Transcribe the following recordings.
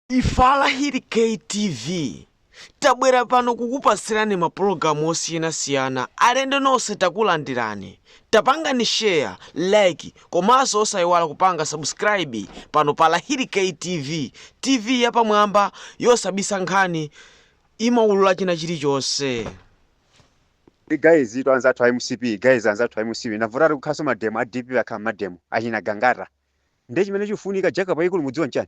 Ife a Lahiri KTV tabwera pano kukupasirani ma pulogalamu osiyanasiyana alendo nose takulandirani tapangani share like komaso osayiwala kupanga subscribe pano pa lahiri KTV TV yapamwamba yosabisa nkhani imaulula china chilichonse Ndi guys itu anzathu a mcp guys anzathu a mcp ndavuta ati kukhalanso mademo a dpp akhala mmademo achina gangata ndiye chimene chikufunika jacob ikulu mudziwa nchani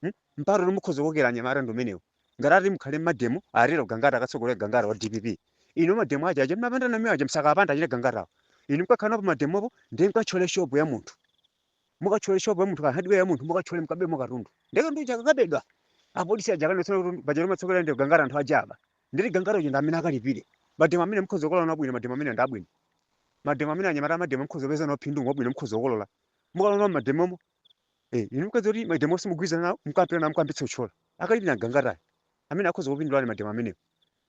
Hmm? Mpata uli mukhoza kukokera anyamata ndi umenewu. Ngati ati mukhale mmademo, atero Gangata akatsogolera Gangata wa DPP. Inu mademo aja aja mmapanda nawo aja msakapanda achina Gangatawo. Inu mkakhala nawo pa mademopo ndiye mkatchole shopu ya munthu. Mukatchole shopu ya munthu ka hardware ya munthu mukatchole mkabemo katundu. Ndiye katundu akakabedwa. Apolisi aja akadzaona kuti paja amatsogolera ndi Gangata anthu aja aba. Ndiye Gangata uja ndi amene akalipire. Mademo amene mukhoza kukolola nawo bwino mademo amene ndi abwino. Mademo amene anyamata amademo mukhoza kupeza nawo phindu ngobwino mukhoza kukolola. Mukalowa mmademomo Eh, inu mkadziwa kuti mademo onse mugwirizana nawo mkapita nawo mkayambitsa kutchola. Akalipire ndi Gangatayo. Amene akhoza kupindula ali mademo amenewo.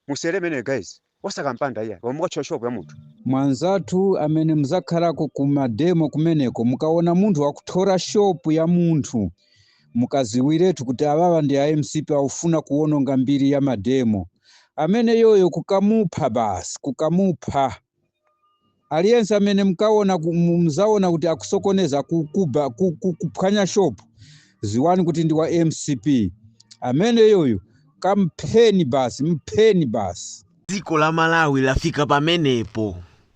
Musere imeneyo guys. Osakampanda iya. Koma mukatchola shopu ya munthu. Mwanzathu amene muzakhalako ku mademo kumeneko mukaona munthu wakuthora shopu ya munthu mukaziwiretu kuti awawa ndi a mcp akufuna kuwononga mbiri ya mademo ameneyoyo mukamupha basi mukamupha aliyense amene mukamuona ku- mu- mzaona kuti akusokoneza ku- kuba- ku- ku- kuphwanya shop ziwani kuti ndi wa mcp ameneyoyo kampheni basi mpheni basi dziko la malawi lafika pamenepo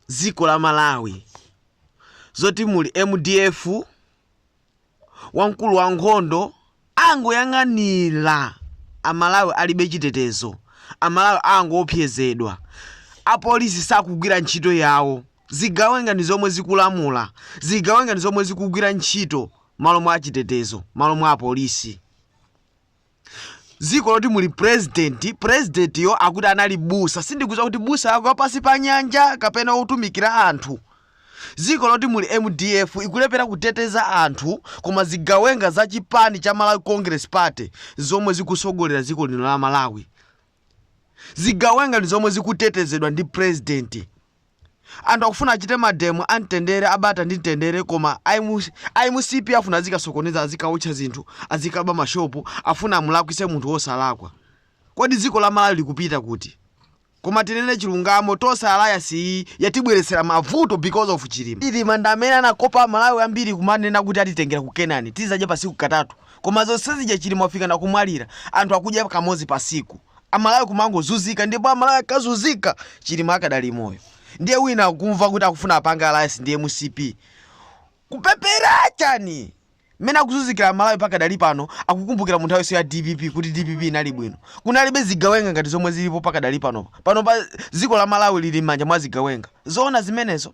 dziko la malawi zoti muli mdf ankulu a nkhondo angoyang'anira amalawi alibe chitetezo amalawi angoopsezedwa apolisi sakugwira ntchito yawo zigawenga ndi zomwe zikulamula zigawenga ndi zomwe zikugwira ntchito malo mwa achitetezo malo mwa apolisi dziko loti muli president president yo akuti anali busa sindikudziwa kuti busa yake wapansi pa nyanja kapena otumikira anthu dziko loti muli mdf ikulepera kuteteza anthu koma zigawenga za chipani cha malawi congress party zomwe zikusogolera dziko lino la malawi zigawenga ndi zomwe zikutetezedwa ndi president anthu akufuna achite mademo amtendere abata ndi mtendere koma a mcp afuna azikasokoneza azikaotcha zinthu azikaba mashopu afuna amulakwise munthu wosalakwa kodi dziko la malawi likupita kuti koma tinene chilungamo tonse alliance iyi yatibweretsera mavuto because of chilima chilima ndi amene anakopa amalawi ambiri kumanena kuti atitengera ku kenani tizadya pasiku katatu Koma zonse zija chilima wafika na kumwalira anthu akudya kamodzi pa tsiku amalawi kumangozunzika ndipo amalawi akazunzika chilima akadali moyo ndiye wina akuti akufuna apange alliance ndi mcp kupepera chani mmene akuzunzikira amalawi pakadali pano akukumbukira munthawi yonse ya dpp kuti dpp inali bwino kunalibe zigawenga ngati zomwe zilipo pakadali panopa panopa dziko la malawi lili m'manja mwa zigawenga zoona zimenezo